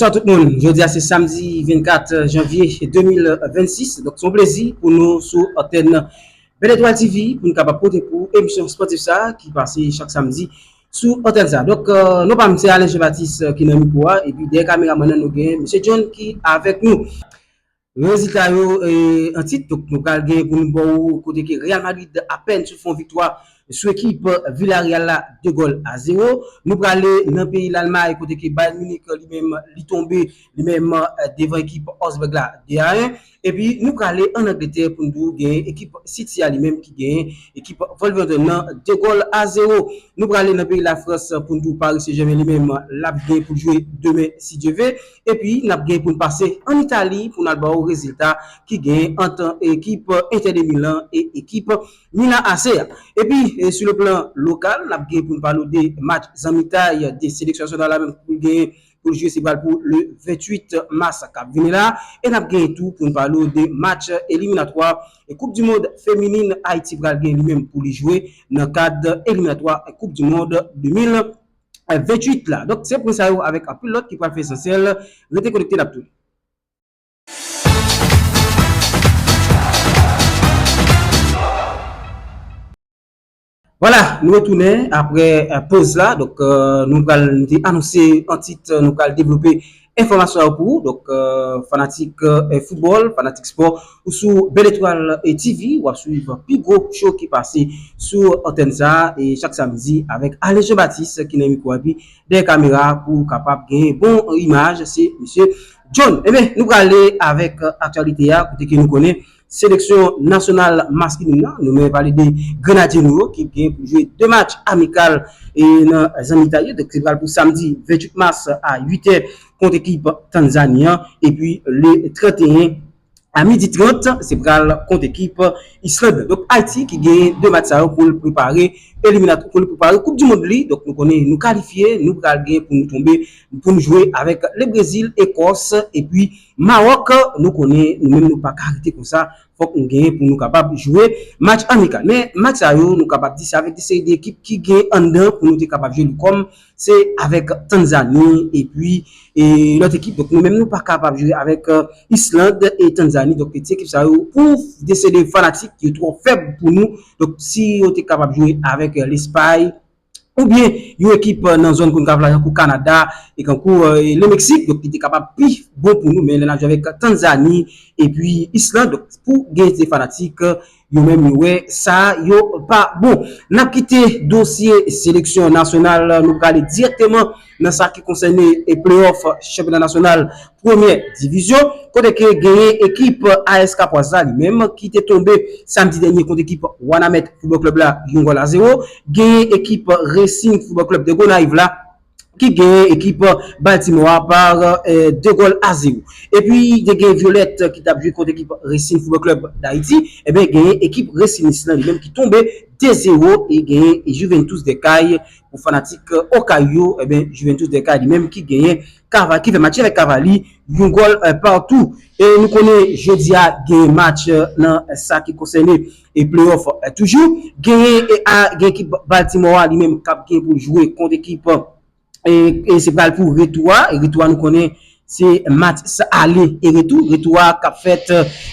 Ciao tout moun, jodi a se samdi 24 janvye 2026, donk se yon plezi pou nou sou antèn Belle Etoile TV pou nou kapab pote pou ou emisyon spòtif sa ki pase chak samdi sou antèn sa. Donk non pa m se Alain Jean Baptiste ki nan mikwo a epi dèyè kameraman nan nou gen Mesye John ki avèk nou. Rezilta yo an tit, donk nou pral gen pou nou ba w kote ke Real Madrid apèn sot fè yon viktwa sou ekip Villarreal la 2 gòl a 0. Nou prale nan peyi Lalmay kote ke Bayern Munich li menm li tonbe li menm devan ekip Augsburg la 2 a 1. Epi nou prale an Angletè pou nou di w gen ekip City a li menm ki genyen ekip Wolverhampton nan 2 gòl a 0. Nou prale nan peyi Lafrans pou nou di w Paris Saint-Germain li menm l ap gen pou l jwe demen si Dye ve. Epi n ap gen pou n pase ann Itali pou n al ba w rezilta ki gen ant ekip Inter de Milan e ekip Milan AC a. Epi sou le plan lokal n ap gen pou n pale w de match zanmitay de seleksyon nasyonal la menm pou l gen pou l jwe se pral pou le 28 mas k ap vini la. E n ap gen tou pou n pale w de match eliminatwa koup di mond feminin Ayiti pral gen li menm pou li jwe nan kad eliminatwa koup di mond 2026 28 la donk se pwen sa yo avèk anpil lòt ki pral fè esansyèl rete konekte nap tounen. Vwala nou retounen aprè poz la donk nou pral nou te anonse an tit nou pral devlope. Enfòmasyon sa yo pou ou, donk fanatik foutbòl, fanatik spò, ou sou Belle Etoile TV, wap swiv pi gwo show ki pase sou antèn sa, e chak samdi avèk Alex Jean Baptiste ki nan mikwo a epi dèyè kamera pou kapab gen bon imaj se misye John. Enben nou prale avèk aktyalite a kote ke nou konnen Seleksyon nasyonal masklin nan, nou mwen pale de Grenadye nou yo ki gen pou jwe 2 match amikal nan zanmitay yo, donk se pral pou samdi 28 mas a 8 è kont ekip Tanzani an, epi le 31 a midi 30 se pral kont ekip Island. Donk Ayiti ki gen 2 match sa yo pou l prepare eliminatwa, pou l prepare koup di mond li, donk nou konnen nou kalifye, nou pral gen pou nou tonbe pou nou jwe avèk le Brezil, Ekòs epi Maroc nou konnen nou menm nou paka rete konsa fok nou genyen pou nou kapab jwe match amikal men match sa yo nou kapab di se avek de seri de ekip ki gen anndan pou nou te kapab jwe li kom se avek Tanzani epi lot ekip donk nou menm nou pa kapab jwe avek Islande e Tanzani donk ti ekip sa yo pou de seri de fanatik yo tro feb pou nou donk si yo te kapab jwe avek Lespay. oubyen yon ekip nan zòn Concacaf la tankou Kanada e kankou Le Mexique donk li te kapab pi bon pou nou men lè n ap jwe avèk Tanzani epi Island donk pou gen de fanatik yo menm yo wè sa yo pa bon. N ap kite dosye seleksyon nasyonal nou prale dirèkteman. nan sa ki konsène play-off chanpyona nasyonal premyè divizyon kote ke genyen ekip AS Kapwaz la li menm ki te tonbe samdi dènye kont ekip Wanament Football Club la yon gòl a zewo. Genyen ekip Racing Football Club de Gonayiv la ki genyen ekip Baltimore a par 2 gòl a zewo. Epi te gen Violette ki tap jwe kont ekip Racing Football Club d'Haiti enben genyen ekip Racinis lan li menm ki tonbe 2 zewo e genyen Juventus de Cayes Pou fanatik Okay yo, ebyen Juventus de Cali menm ki genyen Cava, ki fè match avèk Cavali, yon gòl partou. E nou konnen jodi a genyen match nan sa ki konsène play-off toujou. Genyen a gen ekip Baltimore a li menm kap gen pou l jwe kont ekip e se pral pou retou a. Retou a nou konnen Se match ale e retou, retou a k ap fèt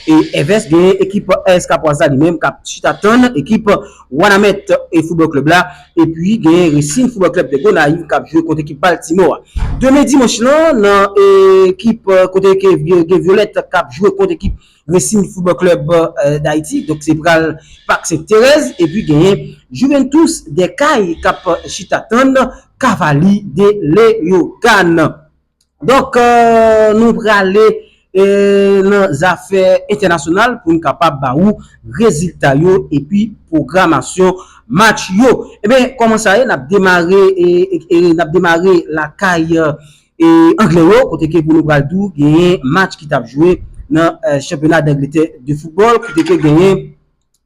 e evès gen ekip AS Kapwaz la li menm k ap chita tann ekip Wanament Football Club la epi gen Racing Football Club de Gonayiv k ap jwe kont ekip Baltimore a. Demen dimanch lan nan ekip kote ke gen Vyolèt k ap jwe kont ekip Racing Football Club Dayiti donk se pral Pak Sent Terèz epi genyen Juventus des Cayes k ap chita tann Cavaliers de Léogâne. Donk nou prale nan zafè entènasyonal pou n kapab ba ou rezilta yo epi pwogramasyon match yo. Ebyen kòman sa ye n ap demare n ap demare lakay angle yo kote ke pou nou pral di w genyen match ki t ap jwe nan chanpyona dangletè de foutbòl kote ke genyen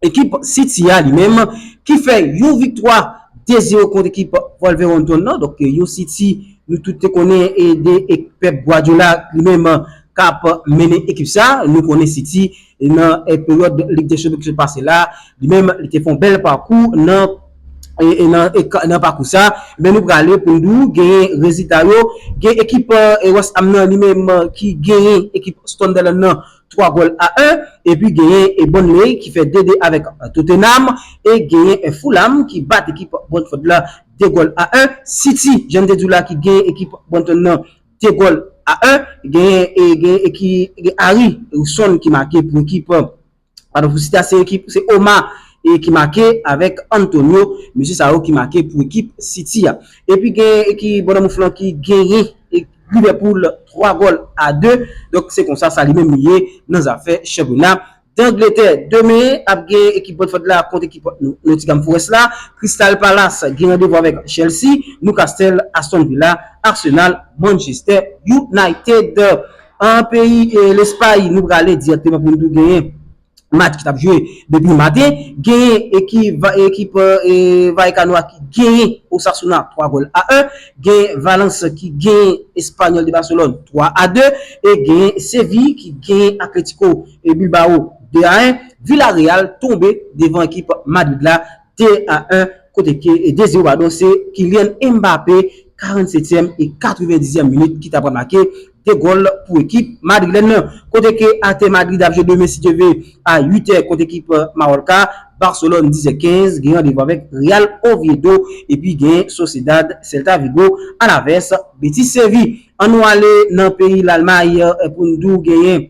ekip City a li menm ki fè yon viktwa 2 zero kont ekip Wolverhampton nan, donk yon City nou tout te konnen e de Pep Guardiola li menm k ap mennen ekip sa, nou konnen City nan peryòd Lig dè Chanpyon ki sot pase la, li menm li te fè yon bèl pakou nan nan pakou sa, men nou prale pou nou di w genyen rezilta yo, gen ekip West Ham nan li menm ki genyen ekip Sunderland nan. 3 gòl a 1 epi genyen e Burnley ki fè 2 2 avèk Tottenham e genyen e Fulham ki bat ekip Brentford la 2 gòl a 1 City jan n te di w la ki genyen ekip Brighton nan 2 gòl a 1 genyen e genyen e ki gen Harry son ki make pou ekip padon pou City a se ekip se Oma e ki make avèk Antonio mesye sa yo ki make pou ekip City a epi genyen e ki Bournemouth lan ki genyen. Liverpool 3 gòl a 2, donk se konsa sa li menm li ye nan zafè chanpyona Dangletè. Demen ap gen ekip Brentford la kont ekip Nottingham Forest la, Crystal Palace gen randevou avèk Chelsea, Newcastle, Aston Villa, Arsenal, Manchester United. An peyi Lespay nou prale dirèkteman pou nou tou genyen match ki tap jwe depi maten, genyen ekip Vallecano a ki genyen Osasuna 3 gòl a 1, genyen Valence ki genyen Espanyòl de Barcelone 3 a 2, e genyen Séville ki genyen Atlético Bilbao 2 a 1. Villarreal tonbe devan ekip Madrid la. 2 a 1 kote ke 2 0 padon se Kylian Mbappé 47 ème e 90 ème minit ki ta pral make 2 gòl pou ekip madrilèn nan. Kote ke atè Madrid ap jwe demen si Dye ve a 8 è kont ekip Mallorca, Barcelone 10 è 15 gen randevou avèk Real Oviedo epi gen Sociedad, Celta Vigo, Alaves, Betis Séville. An nou ale nan peyi Lalmay pou n di w genyen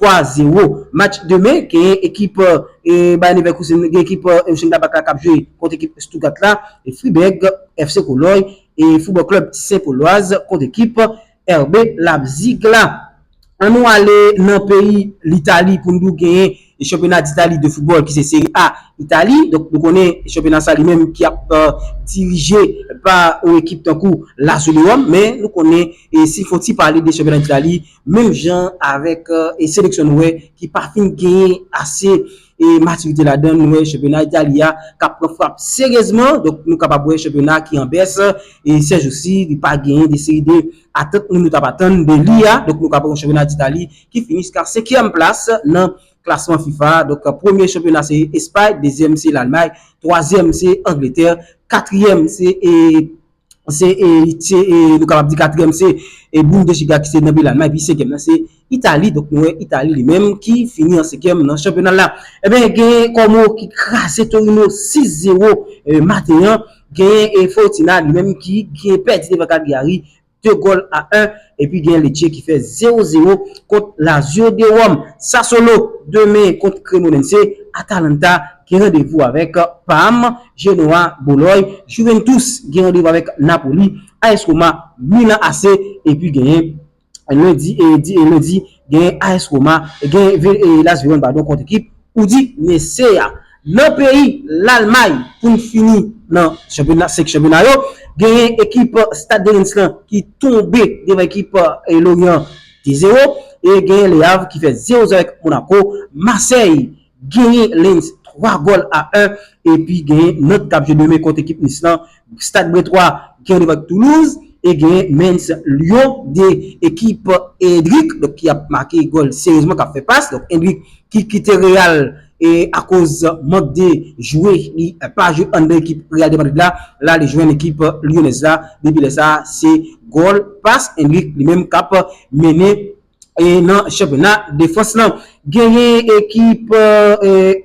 3 0 Match demen genyen ekip Bayer Leverkusen gen ekip Mönchengladbach la k ap jwe kont ekip Stuttgart la e Friburg FC Cologne e Football Club Saint Gaulois kont ekip RB Leipzig la. An nou ale nan peyi Litali pou n di w genyen chanpyona d'Italie de football ki se Serie A Itali donk nou konnen chanpyona sa li menm ki ap dirije pa yon ekip tankou Lazio de Rome men nou konnen si n fon ti pale de chanpyona d'Italie Menm jan avèk seleksyon nou wè ki pa fin genyen ase matirite ladan, nou wè chanpyona Itali a k ap pran frap seryezman. Donk nou kapab wè chanpyona ki an bès sè jousi, li pa genyen de seri de atant moun yo t ap atann de li a. Donk nou kapab wè chanpyona Itali ki fini jiska senkyèm plas nan klasman fifa a. Donk premye chanpyona se Espay, dezyèm se Lalmay, twazyèm se Angletè, katriyèm se. se nou kapab di katriyèm se Bundesliga ki se nan peyi Almay, epi senkyèm nan se Itali, donk nou wè Itali li menm ki fini an senkyèm nan chanpyona la. Ebyen gen Como ki kraze Torino 6 zero maten an, gen Fiorentina li menm ki pèdi devan Cagliari 2 gòl a 1, epi gen Lecce ki fè 0 zero kont Lazio de Rome. Sassuolo demen kont Cremonense, Atalanta. gen randevou avèk Parme, Genoa, Boloy, Juventus gen randevou avèk Napoli, AS Roma, Milan AC epi genyen lendi genyen AS Roma genyen Las Veron padon kont ekip Udinese a. Nan peyi Lalmay pou n fini nan chanpyona 5 chanpyona yo genyen ekip Stade de Reims lan ki tonbe devan ekip Lorient 2 zero e genyen Le Havre ki fè zero zero avèk Monaco, Marseille. Genyen Lens 3 gòl a 1 epi genyen Nant kap jwe demen kont ekip Nice lan, Stad Bretois ki randev ak Toulouse e genyen Mens Lyon 2 ekip Endrick donk ki ap make gòl seryezman kap fè pas donk Endrick ki kite Real e akoz mank de jwe li pa jwe anndan ekip Real de Madrid la, la li jwenn ekip Lyonèz la depi lè sa se gòl pas Endrick li menm kap mennen. E nan chanpyona defans lan, genyen ekip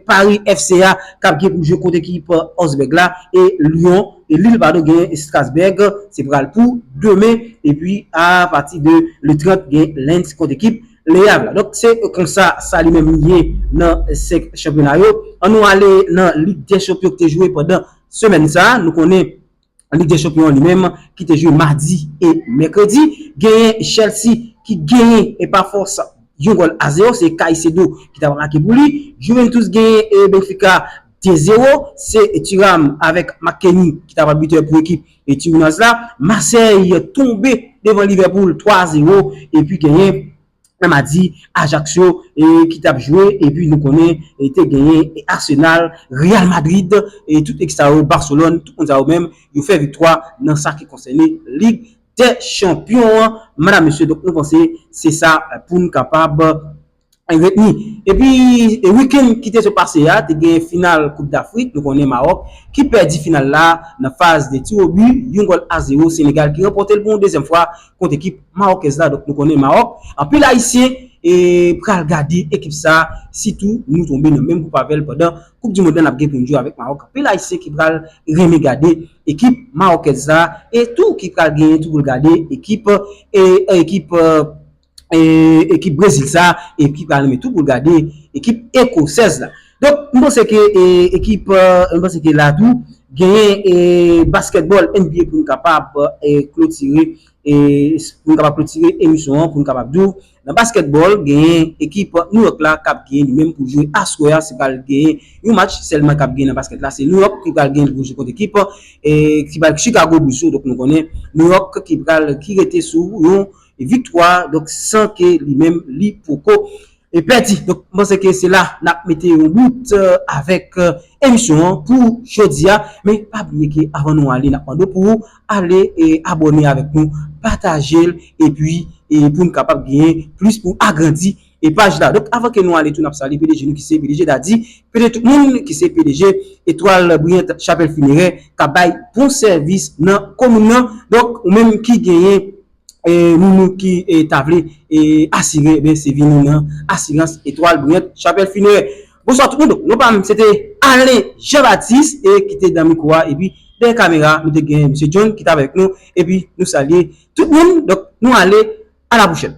Pari FC a k ap gen pou jwe kont ekip Osbèg la e Lyon, e Lil padon gen Strasbèg, se pral pou demen, epi a pati de le 30 gen Lens kont ekip Le Avre. Donk se konsa sa li menm li ye nan 5 chanpyona yo. An nou ale nan Lig dè Chanpyon ki te jwe pandan semèn sa a, nou konnen. Lig dè chanpyon an li menm ki te jwe madi e mèkredi genyen Chelsea ki genyen e pa fòs yon gòl a zewo se Caicedo ki ta make pou li, Juventus genyen e Benfica 2 zewo se Thuram avèk McKennie ki ta pral bitè pou ekip e Turinoise la, Marseille tonbe devan Liverpool 3 a zewo epi genyen. nan madi Ajaccio ki tap jwe epi nou konnen te genyen Arsenal, Real Madrid e tout ekip sa yo Barcelone tout moun sa yo menm yo fè viktwa nan sa ki konsène lig dè chanpyon an madam mesye donk nou panse se sa poun kapab retni epi weekend ki te sot pase a te gen final koup dafrik nou konnen Maroc ki pèdi final la nan faz de tirobi yon gòl a zero Senegal ki ranpòtel pou yon dezyèm fwa kont ekip mawòkèz la donk nou konnen Mawòk anpil ayisyen pral gade ekip sa sitou nou tonbe nan menm gwoup avèl pandan koup dimond la nap gen poun jwe avèk Mawòk anpil ayisyen ki pral renmen gade ekip mawòkèz la e tou ki pral genyen tou poul gade ekip ekip ekip brezil sa e ki pral renmen tou poul gade ekip ekosèz la. Donk m panse ke ekip m panse ke la tou genyen basketball NBA pou nou kapab klotire pou nou kapab klotire emisyon an pou nou kapab di w nan basketball genyen ekip New York la kap genyen li menm pou l jwe aswè a se pral genyen yon match sèlman kap genyen nan basket la se New York ki pral genyen pou l jwe kont ekip ki bay Chicago Bulls yo donk nou konnen New York ki pral ki rete sou yon viktwa donk san ke li menm li poko. E pèdi, donk m panse ke se la n ap mete yon bout avèk emisyon an pou jodi a, men pa bliye ke avan nou ale n ap mande w pou ou ale abòne avèk nou, pataje l epi pou n kapab genyen plis pou agrandi paj la. Donk avan ke nou ale tou n ap salye pdg nou ki se pdg Daddy pdg tout moun ki se pdg Etoile Brillante Chapelle Funéraire k ap bay bon sèvis nan komin nan, donk ou menm ki genyen. moun nou ki ta vle asire ebyen se vini nan asirans etwal briyant chapèl finerè. Bonswa tout moun donk non pam se te Alain Jean Baptiste e ki te nan mikwo a epi dèyè kamera nou te gen Mesye John ki t avèk nou epi nou salye tout moun donk nou ale a la pwochèn.